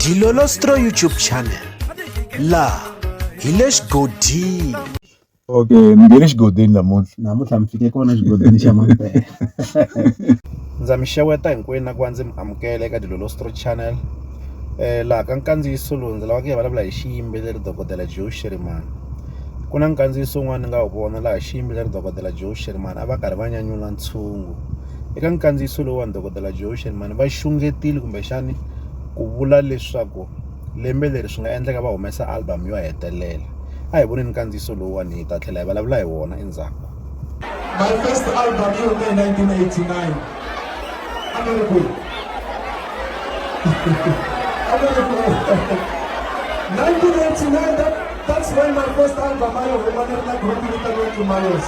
Dilolostro YouTube channel laha hi le xigodini okay mi nge le xigodini namuntlha namuntlha mi fike kona xigodini xa mampela ndza mi xeweta hinkwenu na ku va ndzi mi amukela eka dilolostro channel um laha ka nkandziyiso lowu ndzi lavaka hi vulavula hi xiyimbeleri dokodela joe shirimani ku na nkandziyiso wun'wana ni nga wu vona laha xiyimbeleri dokodela joe shirimani a va karhi va nyanyula ntshungu Eka nkandziyiso lowuwani Dokodela Joe Shelemani va xungetile kumbexani ku vula leswaku lembe leri swi nga endleka va humesa album yo hetelela a hi voneni nkandziyiso lowuwani hi ta tlhela hi vulavula hi wona endzhaku My first album yi hume hi 1989 a ni ri kwihi a ni ri kwihi 1989 that, that's when my first album a yi huma ni ri na group vitaniwa Tumalos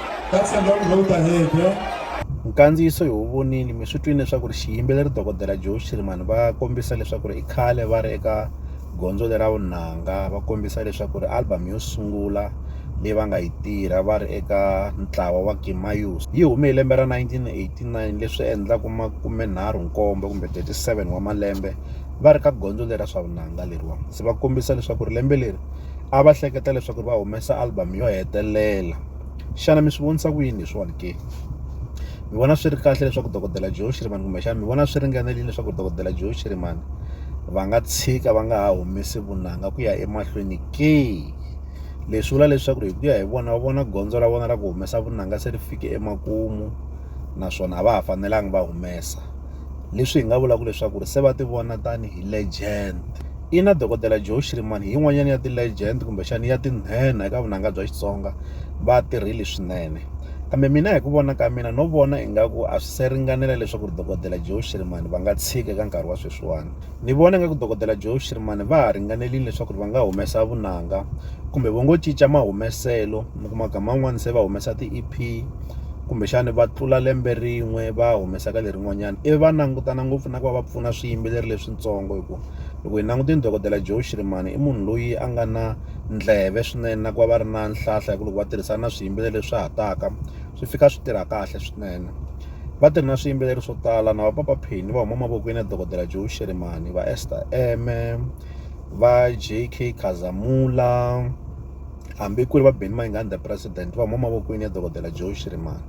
That's a long road ahead, yeah? nkandziyiso hi wu vonile mi swi twini leswaku ri xiyimbeleri dokodela joe shirimani va kombisa leswaku ri i khale va ri eka gondzo lera vunanga va kombisa leswaku ri album yo sungula leyi va nga yi tirha va ri eka ntlawa wa kimayus yi hume hi lembe ra 1989 leswi endlaku makume nharhu nkombo kumbe 37 wa malembe va ri ka gondzo lera swa vunanga leriwa se va kombisa leswaku ri lembe leri a va hleketa leswaku ri va humesa album yo hetelela Xana mi swi vonisa ku yini leswiwani ke? Ni vona swi ri kahle leswaku dokodela Joe Shirimani kumbexana ni vona swi ringanerile leswaku dokodela Joe Shirimani va nga tshika va nga ha humesi vunanga ku ya emahlweni ke? Leswi vula leswaku hi ku ya hi vona va vona gondzo ra vona ra ku humesa vunanga se ri fike emakumu naswona a va ha fanelanga va humesa. leswi hi nga vulaka leswaku ri se va ti vona tanihi legend ina dokodela joe shirimani hi yin'wanyana ya ti-legend kumbexana ya tinhenha eka vunanga bya xitsonga va tirhile swinene kambe mina hi ku vona ka mina no vona ingaku a swi se ringanela leswaku ri dokodela joe shirimani va nga tshika eka nkarhi wa sweswiwani Ni vona nga ku dokodela Joe Shirimani va ha ringanelini leswaku va nga humesa vunanga kumbe vo ngo cinca mahumeselo mi kuma gama man'wani se va humesa ti-E_P kumbexani va tlula lembe rin'we va humesaka lerin'wanyani ivi va langutana ngopfu na ku va va pfuna swiyimbeleri leswitsongo hi ku loko hi langutini dokodela Joe Shirimani i munhu loyi a nga na ndleve swinene na ku va va ri na nhlahla hi ku loko va tirhisana na swiyimbeleri leswi swa ha taka. swi fika swi tirha kahle swinene va tirhi na swiyimbeleri swo tala na va papa phini va huma mavokweni ya dokodela joe sherimani va ester eme va j k khazamula hambi ku ri va beni mayingani the president va huma mavokweni ya dokodela joe sherimani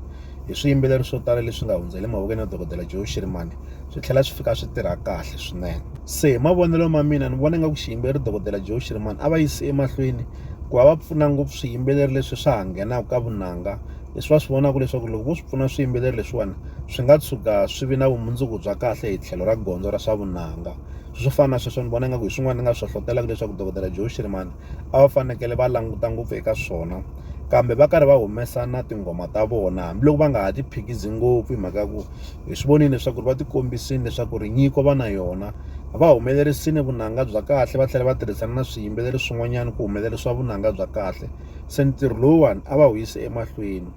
hi swiyimbeleri swo tala leswi nga hundzele mavokweni ya dokodela joe sherimani swi tlhela swi fika swi tirha kahle swinene se hi mavonelo ma mina ni vona nga ku xiyimbeleri dokodela joe sherimani a va yisi emahlweni ku va va pfuna ngopfu swiyimbeleri leswi swa ha nghenaka ka vunanga leswi va swi vonaka leswaku loko vo swi pfuna swiyimbeleri leswiwani swi nga tshuka swi vi na vumundzuku bya kahle hi tlhelo ra gondzo ra swa vunanga swo fana na sweswo ni vona nga ku hi swin'wana ni nga swi hlohlotelaka leswaku dokodela Joe Shirimani a va fanekele va languta ngopfu eka swona kambe va karhi va humesa na tinghoma ta vona hambiloko va nga ha ti phikizingopfu hi mhaka ya ku Hi swi vonile leswaku va tikombisile leswaku ri nyiko va na yona. Va humelerisile vunanga bya kahle va tlhela va tirhisana na swiyimbeleri swin'wanyana ku humelerisa vunanga bya kahle. Se ntirho lowuwani a va wu yisi emahlweni.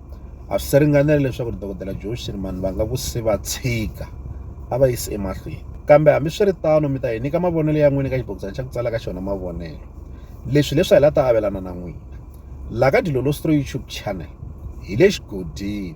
A swi se ringanela leswaku dokodela Joe Shirimani va nga ku se va tshika, a va yisi emahlweni. Kambe hambiswiritano mi ta hi nyika mavonelo ya n'wina eka xibokisana xa ku tsala ka xona mavonelo. Leswi hileswi a hi la ta avelana na n'wina. Laha ka Dilolo Stroy YouTube channel hi le xigodini.